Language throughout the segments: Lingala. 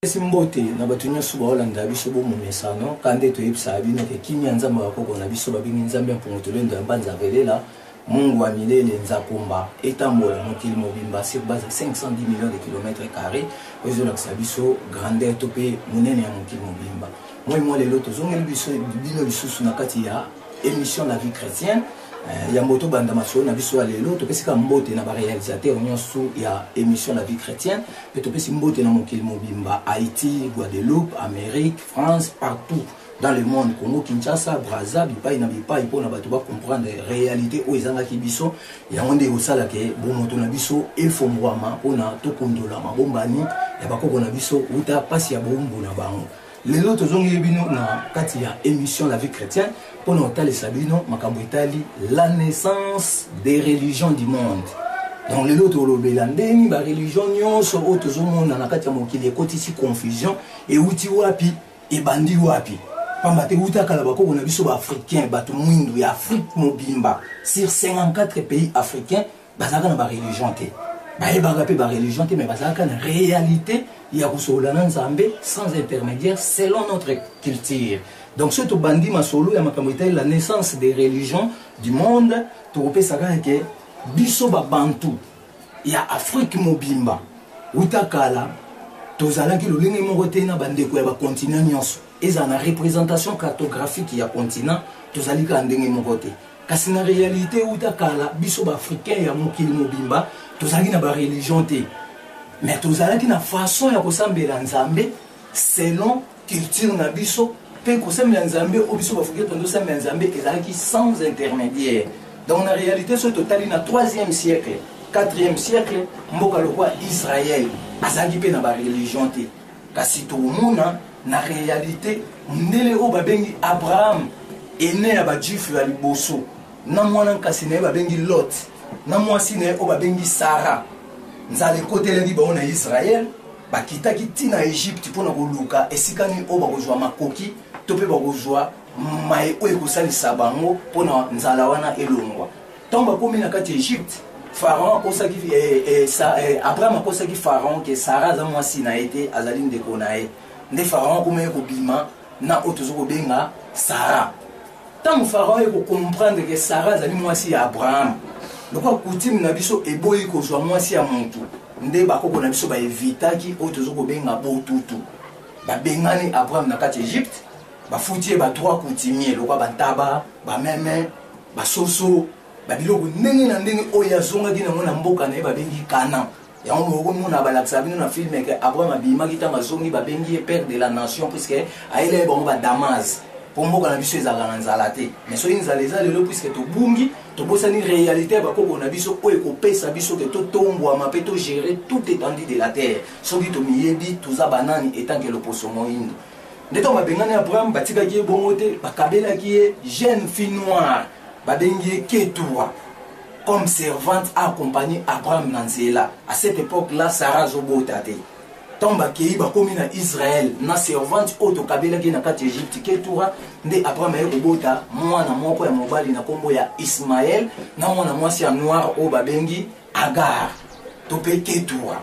esi mbote na bato nyonso baolanda biso bomomesano ka nde toyebisaka bino ke kimia nzambe bakoko na biso babengi nzambe ya mpongo tolendo ya mbanza velela mungu wa milele nzakomba etambola mokili mobimba sur base ya 510 millions de kilomètre carré oyo ezolakisa biso grandeur to mpe monene ya mokili mobimba moi mwa lelo tozongeli biso bino lisusu na kati ya émission la vie chrétienne Eh, yambo tobanda masolo na biso ya lelo topesi kaka mbote na barealisateur nyonso ya émission la vie chrétienne mpe topesi mbote na mokili mobimba haïti guadeloupe amérique france partout dans le monde congo kinshasa braza bipai na bipai mpo na bato bacomprendre réalité oyo ezangaki biso yango nde ekosala ke bomoto na biso efongwama mpo na tokondola mabombani ya bakoko na biso uta mpasi ya boumbu na bango lelo tozongeli bino na kati ya émission la vie chrétienne mpo na kotalisa bino makambo etali la naissance des religions du monde donc lelo tolobela ndeni bareligion nyonso oyo tozomona na kati ya mokili ekotisi confusion euti wapi ebandi wapi pamba te euta kala bakoko na biso baafricain bato mwindu ya afrique mobimba sur 54 pays africain bazalaka na bareligion te bayebaka mpe bareligion te mais bazalaka na réalité ya kosolola na nzambe sans intermédiaire selon notre culture donc soki tobandi masolo ya makambo etali la naissance des religions du monde tokopesa kaka ke biso babantu ya afrique mobimba uta kala tozalaki lolenge moko te na bandeko ya bakontinent nyonso ezala na représentation cartographique ya continent tozali kaka ndenge moko te Kasi na realite uta kala biso ba africains ya mokili mobimba tozalaki na ba religion te. Mais tozalaki na façon ya kosambela Nzambe selon culture na biso mpe kosambela Nzambe oyo biso ba africains tozosambela Nzambe ezalaki sans intermédiaire. Donc na realite soki totali na 3e siècle 4e siècle mboka lokwa Israël azalaki mpe na ba religion te. Kasi tokomona na realite mundele oyo babengi Abraham ene ya bajuife ya liboso na mwana nkasi na ye babengi Lot na mwasi na ye oyo babengi Sara nzala ekotelaki bango na Israel bakitaki ntina na Egypte mpo na koluka esika nini oyo bakozwa makoki to mpe bakozwa maye oyo ekosalisa bango mpo na nzala wana elongwa ntango bakomi na kati ya egypte pharaon akosaki eh, eh, sa, eh, abraham akosaki pharaon ke sara aza mwasi na ye te azali ndeko na ye nde pharaon akomaki kobima na oyo tozo kobenga sara ntango pharaon ye kocomprendre ke sara azali mwasi ya abraham lokola kutime na biso eboyi kozwa mwasi ya motu nde bakoko na biso baevitaki oyo tozo kobenga botutu babengani abraham na kati ya egypte bafuti ye ba trois coutumier lokola bantaba bameme basoso babiloko ndenge na ndenge oyo azongaki nango na mboka na ye babengi kana yango mokomona balakisa bino na filme ke abraham abimaki ntango azongi babengi ye père de la nation puiske ayelaki bango badamase mpo mboka na biso ezalaka na nzala te mais soki nzala eza lelo puiske tobungi tobosani réalité ya bakoko na biso oyo ekopesa biso ke totombwama mpe togere tout étendue de la terre soki tomiyebi toza banani etanke loposo moindo nde ntango babengani abraham batikaki ye bongo te bakabelaki ye jeune fille noire babengi ye ketura comme servante accompagne abraham na nzela à cette époque là sara azobota te ntango bakei bakomi na israel na servante oyo tokabelaki na kati ya egypte ketura nde abraham aye kobota mwana moko ya mobali na nkombo ya ismael na mwana mwasi ya noire oyo babengi Agar, to mpe Ketura.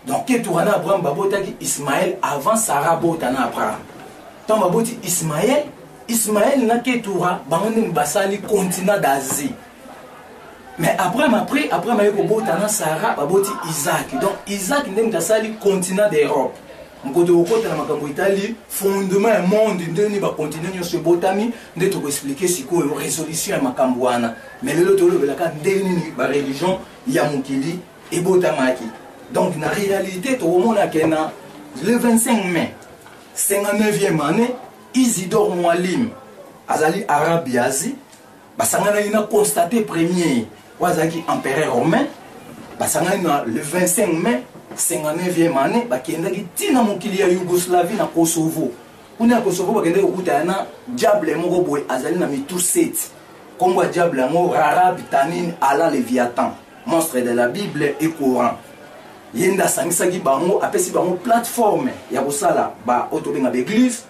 Donc Ketura na Abraham babotaki Ismaël avant Sarah bota na Abraham. Tant baboti Ismaël, Ismaël na Ketura bango nde basali continent d'Asie. Mais Abraham après, Abraham aye kobota na Sarah baboti Isaac. Donc Isaac nde moto asali continent d'Europe. mokoto kokota na makambo etali fondement ya monde ndeni bakontinent nyonso ebotami nde tokoexplike sikoyo résolution ya makambo wana mais lelo tolobelaka ndenge nini bareligion ya mokili ebotamaki donc na réalité tokomona ke na le 25 mai 59e année isidore mwalim azali arabe ya asie basanganaki na constate premier oyo azalaki empereur romain basangani na le 25 mai 59e année bakendaki ntina mokili ya yougoslavie na kosovo kuna ya kosovo bakendaki kokutana na diable moko boye azali na mitu 7 Kombo ya diable yango Rarab, Tanin, Ala, Leviathan, monstre de la Bible et Coran. Ye nda sangisaki bango, apesi bango plateforme ya kosala ba oyo tobenga ba église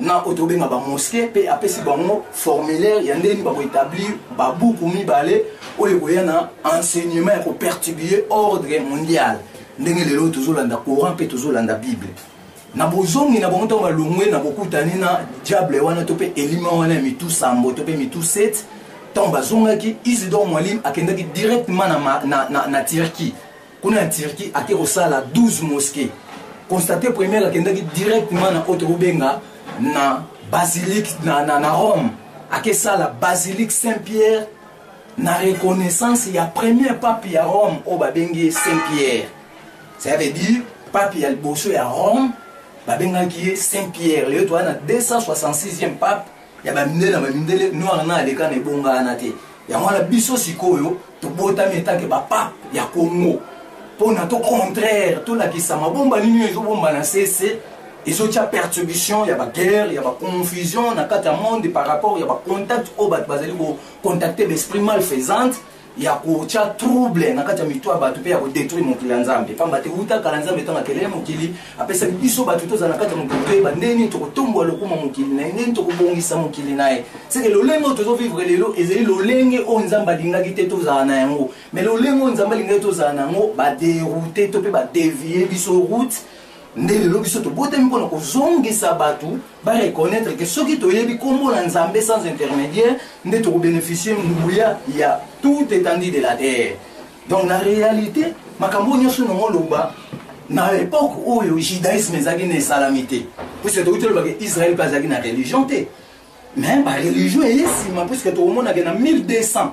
na oyo tobenga ba mosquée pe apesi bango formulaire ya ndenge bako établir ba buku mibale oyo ekoya na enseignement ya ko perturbiller ordre mondial ndenge lelo tozolanda Coran pe tozolanda Bible. na bozongi na bango ntango balongwe na bokutani na diable wana to mpe elima wana ya mitu sambo to mpe mitu 7 ntango bazongaki isidor mwalim akendaki directement na, na, na, na turquie kuna na turquie ake kosala 12 mosquet constate première akendaki directement na oyo tokobenga na basilique na, na, na rome akesala basilique saint pierre na reconnaissance ya premier pape ya Rome oyo babengi ye Saint Pierre ça veut dire pape ya liboso ya Rome babengaki ye Saint Pierre lelo toza na 266e pape ya bamindele na bamindele noir na aleka na ebongana te yango wana biso sikoyo tobotami etake bapape ya Congo mpo na to contraire tolakisa mabomba nini oyo ezobomba na sese ezotia perturbation ya baguerre ya baconfusion na kati ya monde par rapport ya bacontact oyo bato bazali kocontacte baesprit mal faisante ya kotia trouble na kati ya mito ya bato mpe ya kodetruire mokili ya nzambe mpamba te uta kala nzambe ntango akelele mokili apesaki biso bato tozala na kati ya mokili toyeba ndenge nini tokotombola lokuma mokili na ye ndenge nini tokobongisa mokili na ye seke lolenge oyo tozovivre lelo ezali lolenge oyo nzambe alingaki te tozala na yango mai lolenge oyo nzambe alingaki tozala na yango baderoute to mpe badevie biso route nde lelo biso tobotami mpo na kozongisa bato bareconnaitre ke soki toyebi nkombo na nzambe sans intermédiaire nde tokobénéficie nguya ya tout étendue de la terre donc na réalité makambo oyo nyonso nango oloba na époque oyo judaïsme ezalaki na esalami te puisque tokuti olobaka israel mpe azalaki na religion te mais ba religion eye nsima puiske tokomonake na 1200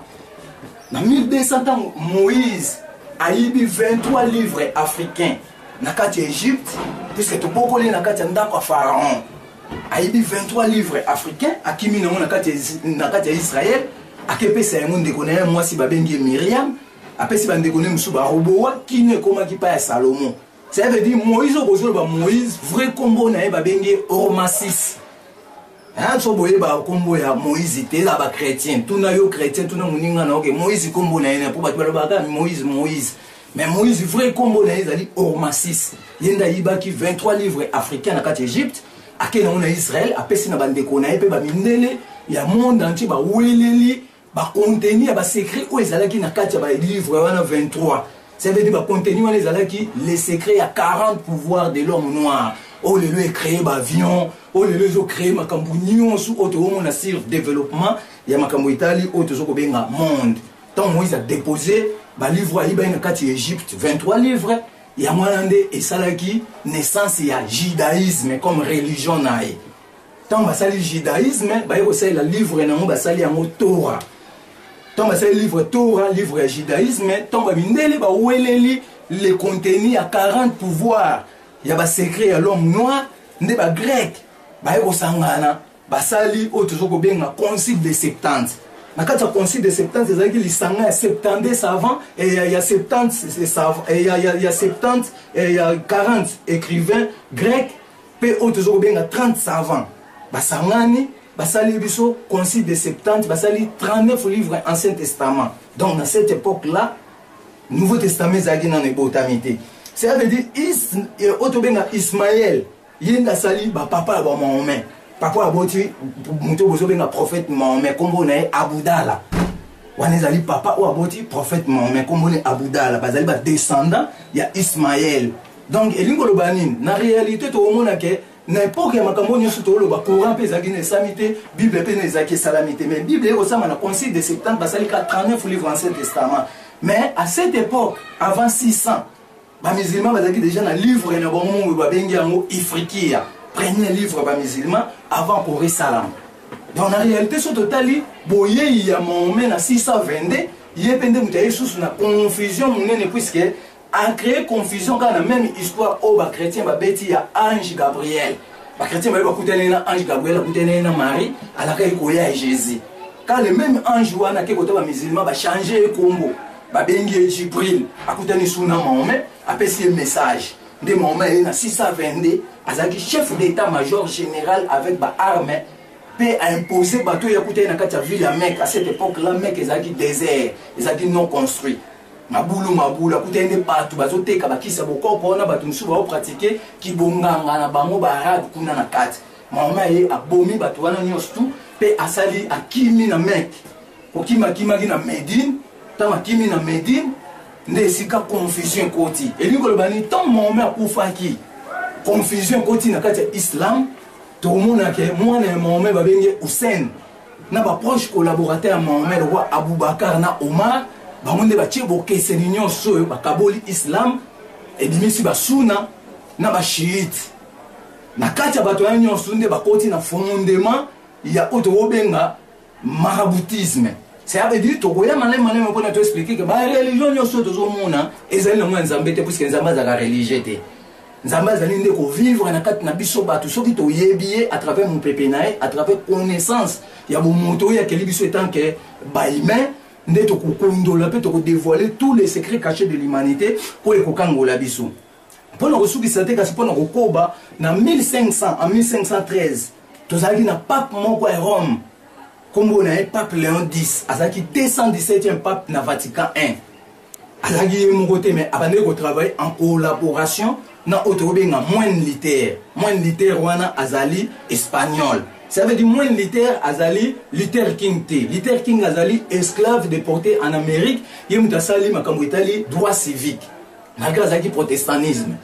na 1200 ntango moïse ayibi 23 livre africain na kati ya egypte puiske tobokoli na kati ya ndako ya pharaon ayibi 23 livre africain akimi nango na kati ya israel akepesa yango ndeko na ye mwasi babengi ye miriam apesi bandeko ne mosusu baroboa kino ekomaki mpa ya salomo Ça veut dire Moïse oyo bozo loba Moïse vrai kombo na ye babengi ye Ormasis. Hein so boye ba kombo ya Moïse te eza ba chrétien tuna yo chrétien tuna moninga na oke Moïse kombo na ye na po bato baloba kaka Moïse Moïse mais Moïse vrai kombo na ye ezali Ormasis ye nde ayibaki 23 livres africain na kati Egypte akende yango na Israël apesi na bandeko na ye mpe bamindele ya monde entier baweleli bakonteni ya basekret oyo ezalaki na kati ya balivre wana 23 ça veut dire bakonteni wana ezalaki le secret ya 40 pouvoir de l'homme noir oyo lelo ecree baavion oyo lelo ezocree makambo nyonso oyo tokomona sur développement ya makambo etali oyo toza kobenga monde ntango moïse adepose balivre ayibaki na kati ya egypte 23 livre yango wana nde esalaki naissance ya judaïsme comme religion na ye ntango basali judaïsme baye kosalela livre na yango basali yango tora ntango basali livre tora livre ya judaïsme ntango bamindele baweleli le contenu ya 40 pouvoir ya basecret ya l'homme noir nde bagrec baye kosangana basali oyo tozo kobenga concile de septante na kati ya concile de septante ezalaki lisanga ya septante savant ya septante ya 40 écrivain grec mpe oyo tozo kobenga 30 savants basangani basali biso concile de septante basali 39 livres ancien testament donc na cette époque là nouveau testament ezalaki nano ebotami te cela veut dire euh, oyo tobenga ismael ye nde asali bapapa ya bamahomain papa aboti moto oyo bozobenga prophète mahomain nkombo na ye abudala wana ezali papa oyo aboti prophète mahomain nkombo na ye abudala bazali badescendant ya ismael donc elingi koloba nini na réalité tokomona ke na epoke ya makambo nyonso tokoloba courant mpe ezalaki na esami te bible mpe na ezalaki esalami te mais bible ekosama na concile de septembre basali ka 39 livre ancien testament mais à cette époque avant 600 bamusulman bazalaki déjà na livre na bango mongo babengi yango ifrikia premier livre bamusulman avant courant esalama donc na réalité so totali boyei ya mahomet na 622 ye mpe nde moto ya ye susu na confusion monene puiske a créer confusion kaka na même histoire oyo ba chrétien babeti ya ange gabriel ba chrétien baye bakutaneli na ange gabriel akutaneli na marie alakaki koya ya jésus ka le même ange wana ake kota bamusulman bachange ye kombo babengi ye jibril akutani su na mahome apesi ye message nde mahome aye na 622 azalaki chef d'état major général avec baarme mpe aimpose bato oyo akutani na kati ya ville ya meke à cette époque la meke ezalaki désert ezalaki non construit mabulu mabulu akutani nde bato bazoteka bakisi ya bokoko wana bato mosusu baopratike kibonganga na bango baarabe kuna na kati mama ye abomi bato wana nyonso tu mpe asali akimi na meke kokima akimaki na medine ntango akimi na medine nde esika confusion ekoti elingi koloba nini ntango mahome akufaki confusion ekoti na kati ya islam tomonake mwana ya mahome babengi hussein na baproche collaborateur ya mahomet lokola aboubakar na omar bango nde batye bokeseni nyonso oyo bakaboli islam ebimisi basuna na bashiite na kati ya bato ya nyonso nde bakoti na fomondema ya oyo tokobenga maraboutisme cest veut dire tokoya malai malai mpona toexplike ke bareligion nyonso oyo tozomona ezali nango ya nzambe te puiske nzambe azalaka religieux te nzambe azali nde kovivre na kati na biso bato soki toyebi ye à travers mopepe na ye à travers connaissance ya bomoto oyo akeli biso etant ke bahumain nde tokokondola mpe tokodevoile tous les secrets cachés de l'humanité oyo ekokangola biso mpo na kosukisa te kasi mpo na kokoba na 1500 en 1513 tozalaki na pape moko ya rome nkombo na ye pape léon 10 azalaki 217e pape na vatican 1 azalaki ye moko te mais abandaki kotravaille en collaboration na oyo tokobenga moine liter moine liter wana azali espagnol ça veut dire moine liter azali liter king te liter king azali esclave déporté en amérique ye moto asali makambo etali droit civique malgré azalaki protestantisme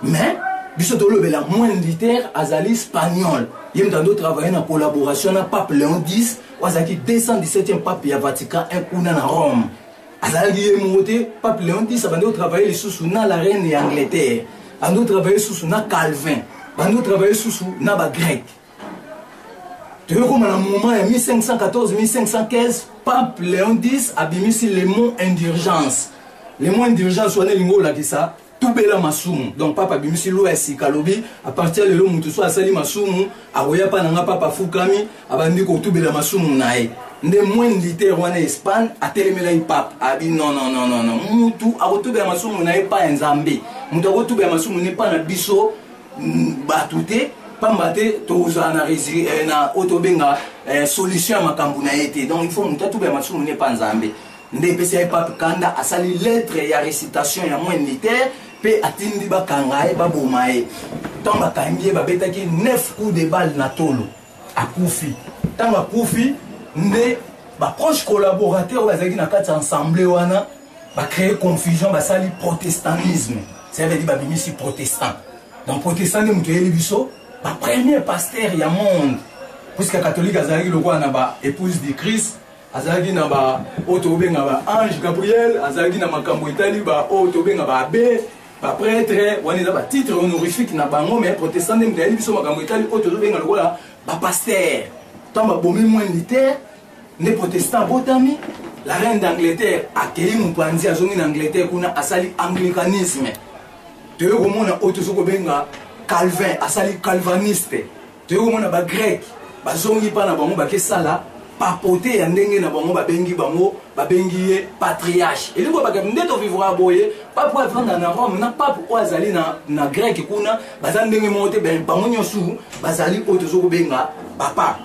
mais biso tolobela moine liter azali espagnol ye moto ando travaille na collaboration na pape léon 10 oyo azalaki 217e pape ya vatican 1 kuna na rome azalaki ye moko te pape leon x abandi kotravaille lisusu na la reine ya angleterre bandi kotravaille lisusu na calvin bandi kotravaille lisusu na bagrec toyokoma na moment ya 1514 1515 pape leon x abimisi le mot indurgence le mot indurgence wana elingi olakisa tubela masumu donc papa abimisi loi ya sika alobi apartir lelo moto so asali masumu akoya mpa na nga papa afukami abandi kotubela masumu na ye nde moine litere wana espagne atelemelaki pape abi nonnononono mutu akotubela masumu na ye mpa ya nzambe moto akotubela masumu ne mpa na biso mm, bato te pamba te tozala na eh, oyo tobenga eh, solution ya makambo na ye te donc il faut moto atubela masumu ne mpa nzambe nde epesi ye pape kanda asali lettre ya recitation ya moins militaire mpe atindi bakanga ye baboma ye ntango bakangi ye babetaki 9 coup de balle na tolo akufi ntango akufi nde baproche collaborateur oyo bazalaki na kati ya ensemble wana bacree confusion basali protestantisme cavedi babimisi protestant donc protestant nde moto eyeli biso bapremier pasteur ya monde puisque catholique azalaki lokola na baépouse du christ azalaki na ba oyo tokobenga ba ange gabriel azalaki na makambo etali ba oyo tokobenga ba abe bapretre wana eza batitre honorifique na bango mais protestant nde moto ayebi biso makambo etali oyo tozobenga lokola bapaster ntango babomi moins liter nde protestant abotami la reine d'angleterre akei mopanzi azongi na angleterre kuna asali anglicanisme toyei komona oyo tozokobenga calvin asali calvaniste toyei komona bagreke bazongi mpa na bango bakesala papote ya ndenge na bango babengi bango babengi ye patriarche elingi kobaka nde tovivra boye pape oyo avanda na rome na pape oyo azali na, na greke kuna baza ndenge moko te bango nyonso bazali oyo tozo kobenga bapape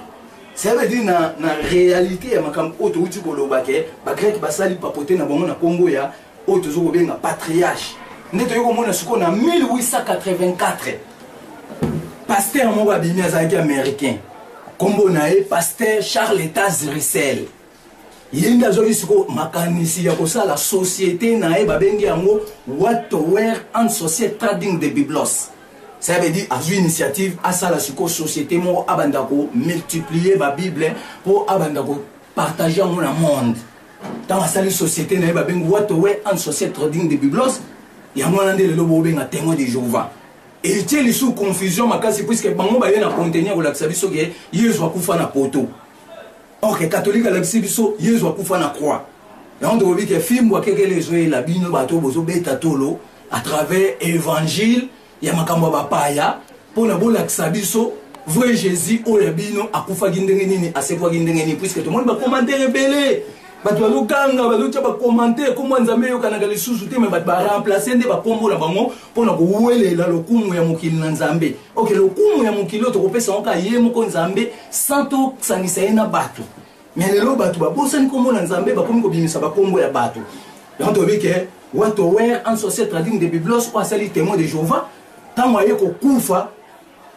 ça veut dire na, na réalité ya makambo oyo touti koloba ke bagreke basali papote na bango na nkombo ya oyo tozo kobenga patriage nde toyei komona sikoyo na 1884 paster moko abimi azalaki américain nkombo na ye paster charles etas rissel ye nde azwaki sikoyo makanisi ya kosala société na ye babengi yango wattower and society trading de biblos ça veut dire azwi initiative asala sikoyo société moko abanda komultiplier babible mpo abanda kopartage yango na monde ntango asali société na ye babengi watowe and société trading de biblos yango wana nde lelo bobenga témoin de jehovah etie lisusu confusion makasi puiske bango baye na contenu ya kolakisa biso ke yezu akufa na poto orke katolike alakisi biso yezu akufa na croix yango tokobi ke fimbu akekele ezoyela bino bato bozobeta tolo à travers évangile ya makambo ya bapaya mpo na bolakisa biso vrai jésus oyo ya bino akufaki ndenge nini asekwaki ndenge nini puiske tomoni bakomantere ebele bato bazoganga bazotya bakomantere nkombo ya nzambe eyokanaka lisusu te me bato baremplace nde bakombo na bango mpo na kowelela lokumu ya mokili na nzambe oke lokumu ya mokili oyo tokopesa yango kaka ye moko nzambe sans tosangisa ye na bato Mais lelo bato babosani kombo na Nzambe bakomi kobimisa bakombo ya bato. Donc toyebi ke Wato Wer un sorcier trading de Biblos oyo asali témoin de Jehovah ntango aye kokufa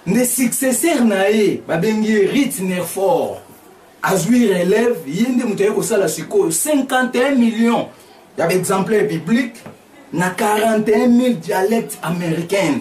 nde successeur na ye babengi ye Rit Nerfort azwi relève ye nde moto aye kosala sikoyo 51 millions ya baexemplaire biblique na 41 000 dialecte américaine